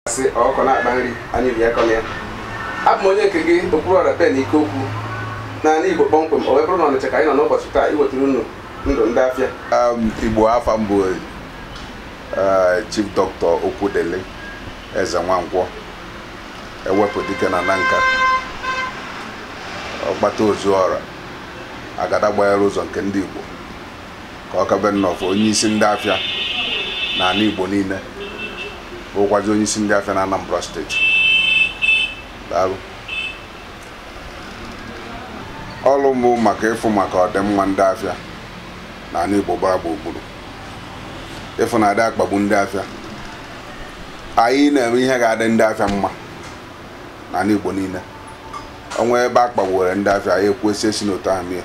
sị ọkụkọ na-akpa nri anya ri akọna ya abụ m onye nke gị okpuru ọra pen ike okwu naanị igbo kpọmkwem o wee bụrụ na ọnịcha ka anyị nọ n'ụbọchị taa iwetara unu ndu ndị afịa Um, igbo afa m bụ eh, chief dọkịta okwudili ezenwankwọ ewepụ dike na nanka ọgbata o zuo ọra agada gbachiri ụzọ nke ndị igbo ka ọ kabe nnọfụ onye isi ndị afịa na ani igbo niile bụkwazi onye isi ndị afịa na anambra steeti daalụ ọrụ m bụ maka ịfụ maka ọdịmma ndị afịa na ani igbo gbara gburugburu ịfụ na adị akpagbu ndị afịa anyị na-eme ihe ga-adị ndị afịa mma na ani igbo niile o nwee ebe a kpagbuwere ndị afịa anyị ekwue sị esina otu ahụ mee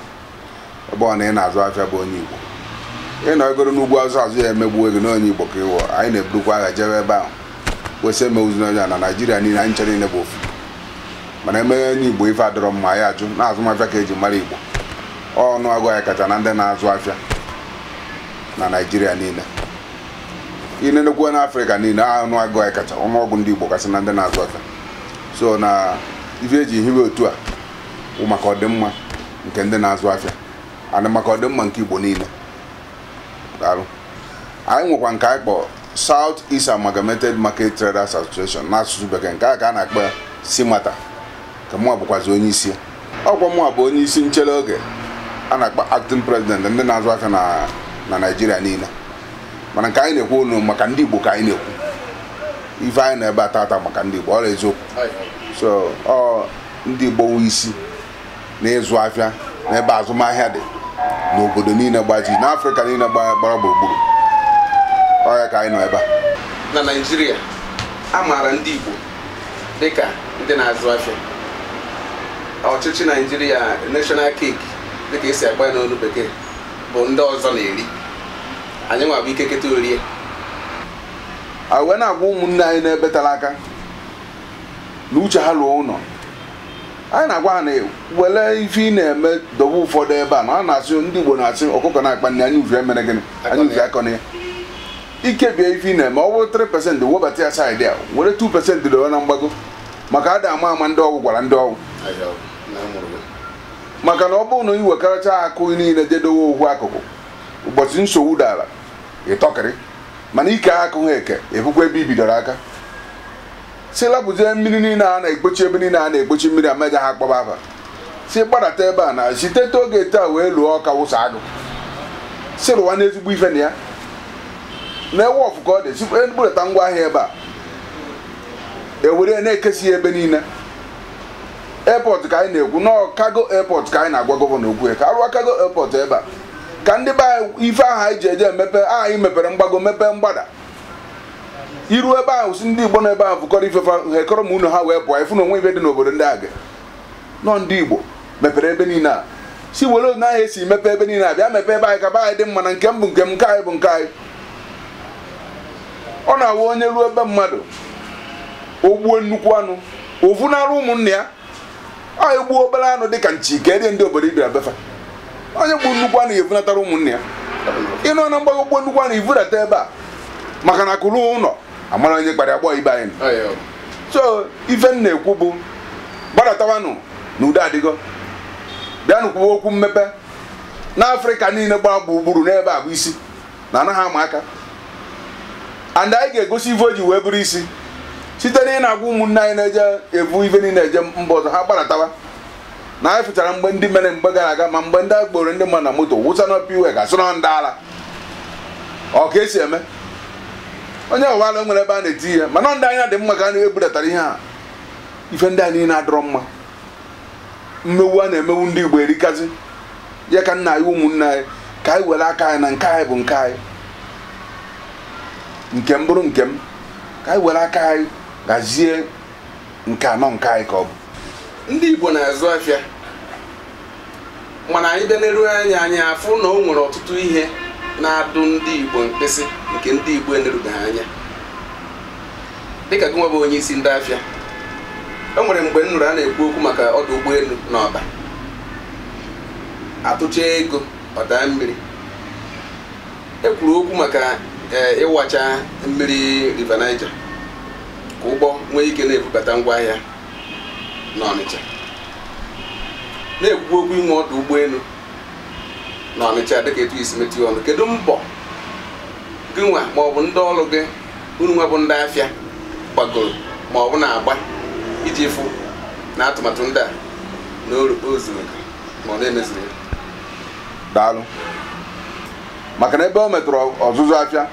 ebe ọ na ị na-azụ afịa bụ onye Igbo ị nọgoro n'ugwu azụ azụ ya e megbuo gị na onye Igbo ka ị wụ anyị na-eburukwa agha jewe ebe ahụ kwue sị emegbuzina onye a na Naịjirịa niile anyị ncha niile bụ ofu mana e mewe onye Igbo ife adịrọ mma anyị ajụ na azụmafịa ka eji mara Igbo ọnụọgụ anyị kacha na ndị na-azụ afịa na Naịjirịa niile i nenekwuo na afrịka niile ọnụọgụ anyị kacha ọnụọgụ ndị igbo kasị na ndị na-azụ afịa so na ife eji hiwe otu a bụ maka ọdịmma nke ndị na-azụ afịa na maka ọdịmma nke Igbo niile daalụ anyị nwekwa nke anyị kpọrọ South East Amalgamated Market Traders Association n'asụsụ bekee nke a ka a na-akpọ ya SEAMATA ka mụnwa bụkwazi onye isi ọkwa mụnwa bụ onye isi nchere oge a na-akpọ acting president ndị na-azụ afịa na na Naịjirịa niile mana nke anyị na-ekwu unu maka ndị Igbo ka anyị na-ekwu ife anyị nọ ebe a tata maka ndị Igbo ọ wụ eziokwu so ọ ndị Igbo wụ isi na ịzụ afịa n'ebe azụmahịa dị n'obodo niile gbaji n'Afrịka niile gba- gbara gburugburu ọ ya ka anyị nọ ebe a na naijiria a maara ndị igbo dịka ndị na-azụ afịa ọchịchị naijiria national cake dịka esi agba ya n'olu bekee bụ ndị ọzọ na-eri anyị nwa bụ ike keta orie a wee na-agwa ụmụnne anyị nọ ebe tele aka na uche ha luo ụlọ anyị na-agwa ha na were ife ị na-eme dobe ụfọdụ ebe a na a na-asị ndị Igbo na-asị ọkụkọ na-akpa nni anya uvi emere gịnị anya uvi akọna ya i kebie ife ị na-eme ọ bụrụ 3 pesentị webata ya saịdị a were 2 pesentị dowe na mgbago maka ada ama ama ndị ọgwụ gwara ndị ọgwụ maka na ọ bụrụ na i wekọrọcha akụ niile je dowe ofu akụkụ ụbọchị nsogbu dara ịtọkịrị mana ike ha akụghị eke ebukwa ebe ibidoro aka si lapụzie mmiri niile a na-ekpochi ebe niile a na-ekpochi mmiri amaja ha kpọba afa si gbadata ebe a na site oge taa wee lụọ ọka wụsa agụ si rụwa n'ezigbo ife na ya na-enwe wọfụ ka ọ dị si eburata ngwa ahịa ebe a ewere na-ekesi ya ebe niile airport ka anyị na-ekwu na cargo airport ka anyị na-agwa gọvanọ okwu ka a rụwa cargo airport ebe a ka ndị be anyị ife ahụ anyị ji eje emepe aha anyị mepere mgbago mepee mgbada iru ebe ahụ si ndị Igbo nọ ebe ahụ fụkọrọ ife fa ha ekọrọ ma unu ha wee pụọ ị fụ na o nwe ife dị n'obodo ndị aga nọ ndị Igbo mepere ebe niile a si were otu ahụ esi mepe ebe niile a bịa mepee ebe anyị ka be anyị dị mma na nke m bụ nke m nke anyị bụ nke anyị ọ na-awụ onye ruo ebe mmadụ o gbuo nnukwu anụ o vunarụ ụmụnne ya onye gbuo obere anụ dị ka nchi ka erie ndị obodo ị bịara be fa onye gbuo nnukwu anụ ya evunatara ụmụnne ya ị nọ na mgbago gbuo nnukwu anụ i vudata ebe a maka na akụ ruo ụlọ a mara onye kpara agbọ ibe anyị so ife m na-ekwu bụ gbadatawanụ na udo adịgo bịanụ kwuwe okwu mmepe n'Afrịka niile gbaa gburugburu na ebe a bụ isi na anaghị ama aka and anyị ga-egosi ive o ji wee bụrụ isi site na ị na-agwa ụmụnne anyị na-eje evu ife niile eje mba ọzọ ha gbadatawa na anyị fụchara mgbe ndị mere mgbe gara aga ma mgbe ndị kporo ndị mmadụ na moto wụsa na Upper Iweka sị na ọ ndị ala ọ ka esi eme onye ọ wụla nwere ebe a na-etinye mana ndị anya dị mma ka a na-ebudatara ihe a ife ndị a niile adịrọ mma mmewu a na-emewu ndị Igbo erikazi ya ka nna anyị ụmụnne anyị ka anyị were aka anyị na nke anyị bụ nke anyị nke m bụrụ nke m ka anyị were aka anyị gazie nke a na ọ nke anyị ka ọ bụ ndị Igbo na-azụ afịa mana anyị bịa neruo anya anyị afụ na o nwere ọtụtụ ihe na-adụ ndị Igbo mkpịsị nke ndị Igbo enerubeghị anya dịka gụnwa bụ onye isi ndị afịa o nwere mgbe m nụrụ a na-ekwu okwu maka ọdụ ụgbọelu na Ọba a tụchaa ego ọ daa mmiri e kwuru okwu maka e, ịwacha mmiri River Niger ka ụgbọ nwee ike na-ebubata ngwa ahịa n'Ọnịcha na-ekwu okwu inwe ọdụ ụgbọelu n'Ọnịcha dịka etu i si metụ ọnụ kedu mbọ gị nwa ma ọ bụ ndị ọrụ gị unu nwa bụ ndị afịa gbagoro ma ọ bụ na-agba iji fụ na atụmatụ ndị a na o zuru ma ọ na-emezuru ya daalụ maka na ebe o metụrụ ọzụzụ afịa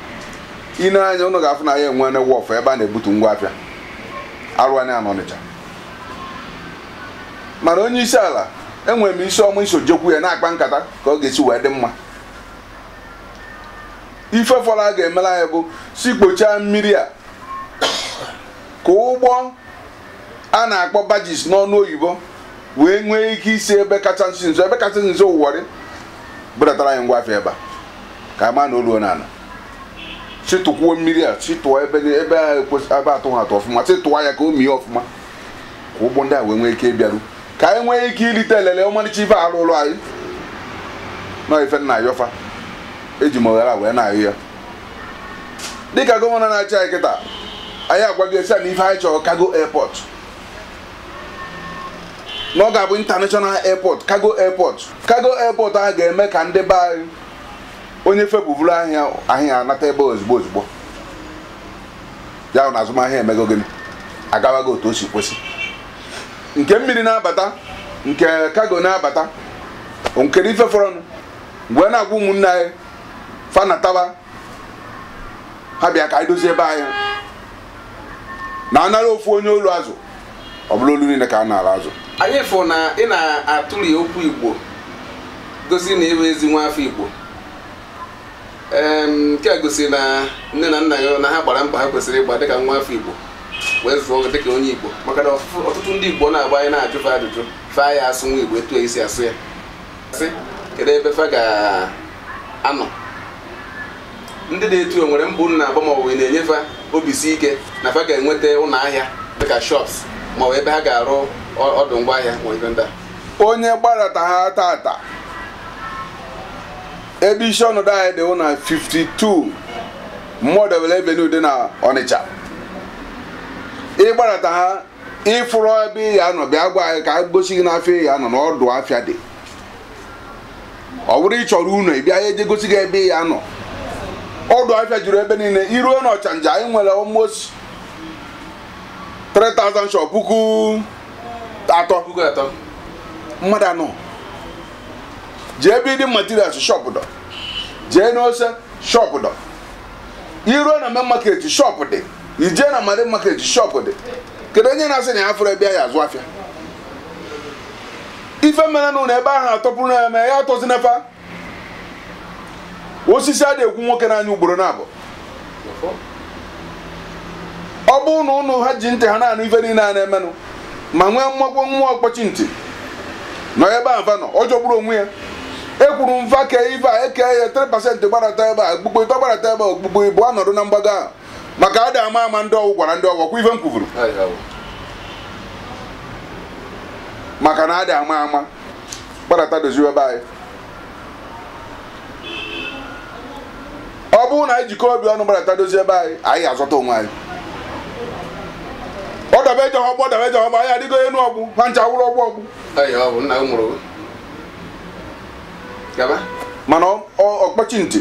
i nee anya unu ga-afụ na anyị enwerọ wọfụ ebe a na-ebutu ngwa afịa arụ anyị n'ọnịcha mana onye isi ala enwere m isi ọma iso jekwu ya na-akpa nkata ka ọ ga-esi wee dị mma ife fọrọ a ga-emere anyị bụ sị kpochaa mmiri a ka ụgbọ a na-akpọ barges n'ọnụ oyibo wee nwee ike isi ebe kacha nso ebe kacha nso warri budatara anyị ngwa afịa ebe a ka a maa na o luo n'ala sị tụkwuo mmiri a sị tụọ ebe ni- ebe a ekwesị- ebe atụghị atụ ọfụma sị tụọ ya ka o mie ọfụma ka ụgbọ ndị a wee nwee ike ịbịaru ka anyị nwee ike irite elele ọmarịcha ife arụụlụ anyị nọ ife m na-ayọ fa eji m oghere a wee na-ayọ ya dịka gọvanọ na-achị anyị kịta anyị agwago ya sị na ife anyị chọrọ cargo airport na ọ ga-abụ international airport cargo airport cargo airport ahụ ga-eme ka ndị be anyị onye fepụ vuru ahịa ahịa anata ebe a ozugbo ozugbo ya na azụmahịa emego gịnị agawago otu o si kwesị nke mmiri na-abata nke cargo na-abata nkere ife fọrọnụ m wee na-agwa ụmụnne anyị fa nataba ha bịa ka anyị dozie ebe anyị na anara ofu onye olu azụ ọ bụrụ olu niile ka a na-ala azụ anyị fụ na ị na-atụli okwu igbo gosi na ị bụ ezi nwa afọ igbo nke a gosiri na nne na nna gị na ha gbara mbọ ha kwesịrị ịgba dịka nwa afọ igbo wee zụọ gị dịka onye igbo maka na ọtụtụ ndị igbo na-agba anyị na-ajụ fa ajụjụ fa ya-asụnwu igbo etu esi asụ ya sị kedu ebe fa ga anọ ndị nọ etu a nwere mbọ unu na-agba ma ọ bụ na-enye fa obi si ike na fa ga-enweta ụlọ ahịa dịka shops ma ọ bụ ebe ha ga-arụ ọ- ọdụ ngwa ahịa ma ife ndị a onye gbarata ha tata ebe isi ọnọdụ anyị dị na 52 modebe avenue dị na ọnịcha ị gbarata ha ị fụrọ ebe ị ya-anọ bịa gwa anyị ka anyị gosi gị n'afịa ị ya-anọ na ọdụ afịa dị ọ bụrụ ị chọrọ ụnọ ị bịa a ya-eje gosi gị ebe ị ya-anọ ọdụ afịa juru ebe niile i ruo na ọchanja anyị nwere almost 3000 shop puku atọ puku atọ mmadụ anọ jee building materials shop dọ jee n'ose shop dọ i ruo na main market shop dị i jee na marine market shop dị kedu onye na-asị na ya afụrọ ebe ya azụ afịa ife mere na ebe ahụ atọpụrụ ya ma ya atọzi n'efa osisi a na-ekwu nwoke n'anya ugboro naabọ ọ bụrụ na ụnụ ha ji ntị ha na-anụ ife niile a na-emenụ ma nwee mmụọ nwa ọkpọchi ntị nọ ebe a nọ ọ jọgburu onwe ya ekwuru m fa kee ife a e kee ya 3 percent gbarata ebe a okpukpu ịtọ gbarata ebe a okpukpu ịbụa nọdụ na mgbago ahụ maka ada ama ama ndị ọgwụ gwara ndị ọgwụ ọkwa ife m kwuvuru maka na ada ama ama gbadata doziwe ebe anyị ọ bụrụ na anyị jikọ obi ọnụ gbadata dozie ebe anyị anyị azọta onwe anyị ọ daba eje ọgbọ daba eje ọgbọ anyị adịgo enu ọgbụ ha ncha wụrụ ọgbọ ọgbụ Eyi, ọ bụ nna m mụrụ gaba mana ọ- ọ- ọkpọchi ntị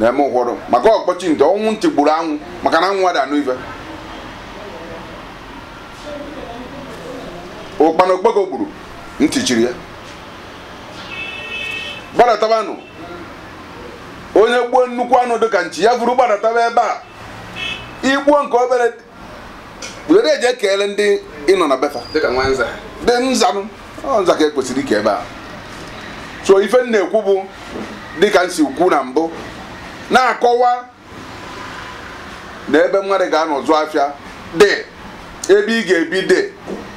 na-eme ụfọdụ maka ọkpọchi ntị ọ wụ ntị gburu anwụ maka na anwụ adị anụ ife ụkpana okpoko gburu ntị chiri ya gbadatabanụ onye gbuo nnukwu anụ dịka nchi ya buru gbadataba ebe a i gbuo nke obere were eje keele ndị ị nọ na be fa dịka nwa nza dị nzanụ ọ nza ka e kwesịrị ike ebe a so ife m na-ekwu bụ dịka m si kwu na mbụ na-akọwa na ebe mmadụ ga-anọ zụ afịa dị ebe ị ga-ebi dị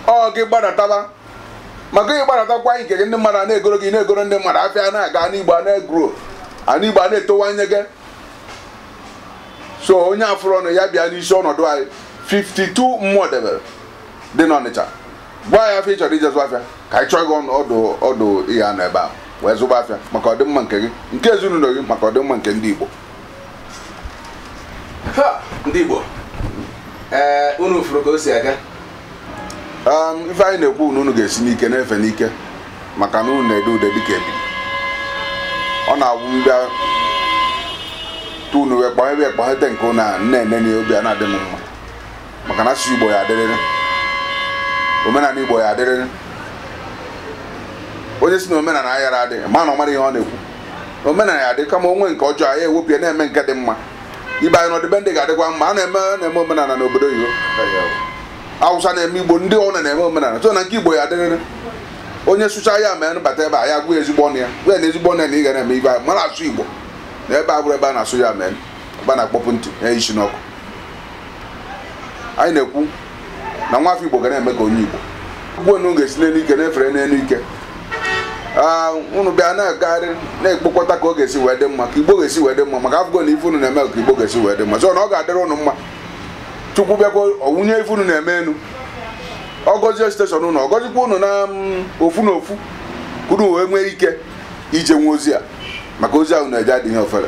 ọ gị gbadataba maka ị gbadatakwa nke gị ndị mmadụ a na-egoro gị na-egoro ndị mmadụ afịa na-aga ana igbo a na-egrow ana igbo a na-etowanye gị so onye afụrụ ọnụ ya bịa n'isi ọnọdụ anyị 52 Modebe dị n'ọnịcha gwa anyị afịa ị chọrọ ije zụ afịa ka anyị chọọ gị ọnụ ọdụ ọdụ ị ya-anọ ebe ahụ wee zụba afịa maka ọdịmma nke gị nke ezinụlọ gị maka ọdịmma nke ndị Igbo Ha! ndị Igbo ee unu fụrụ ka o si aga um, ife anyị na-ekwu na unu ga-esi n'ike na-efe n'ike maka na unu na-ede ude dịka ebi ọ na-awụ m bịa tunu wee kpọọ ee kpọhete nke unu na-ene na obi a na-adị m mma maka na asụsụ igbo ya adịrịrị omenala igbo ya adịrịrị onye si na omenala ayara adị ma na ọ marọ ihe ọ na-ekwu omenala ya-adị kama o nwee nke ọjọọ ya ewepụ ya na-eme nke dị mma ibe anyị n'ọdịbendị ga-adịkwa mma a na-eme na-eme omenala n'obodo oyibo awụsa na-eme igbo ndị niine na-eme omenala so na nke igbo ya-adịrịrị onye sụcha ya ma bata be ya ya gwa ezigbo ọnụ ya gwa na ezigbo ọnụ ya na ị ga na-eme ibe mara asụ igbo na ebe a bụrụ ebe a na-asụ ya mee ebe a na-akpọpụ ntị na isi n'okwu anyị na-ekwu na nwa afọ igbo ga na-eme ka onye igbo unu ga-esi n'elu ike na-efere n'elu ike unu bịa na-agagharị na-ekpokọta ka ọ ga-esi wee dị mma ka igbo ga-esi wee dị mma maka afụgo na ife unu na-eme ka igbo ga-esi wee dị mma so na ọ ga-adịrị unu mma chukwu bịakwa wunye ife unu na-eme enu ọ gọzie steshọn unu ọ gọzikwa unu na mm, ofu na ofu ka unu wee nwee ike ije nwa ozi a maka ozi unu na-eje adịghị ofere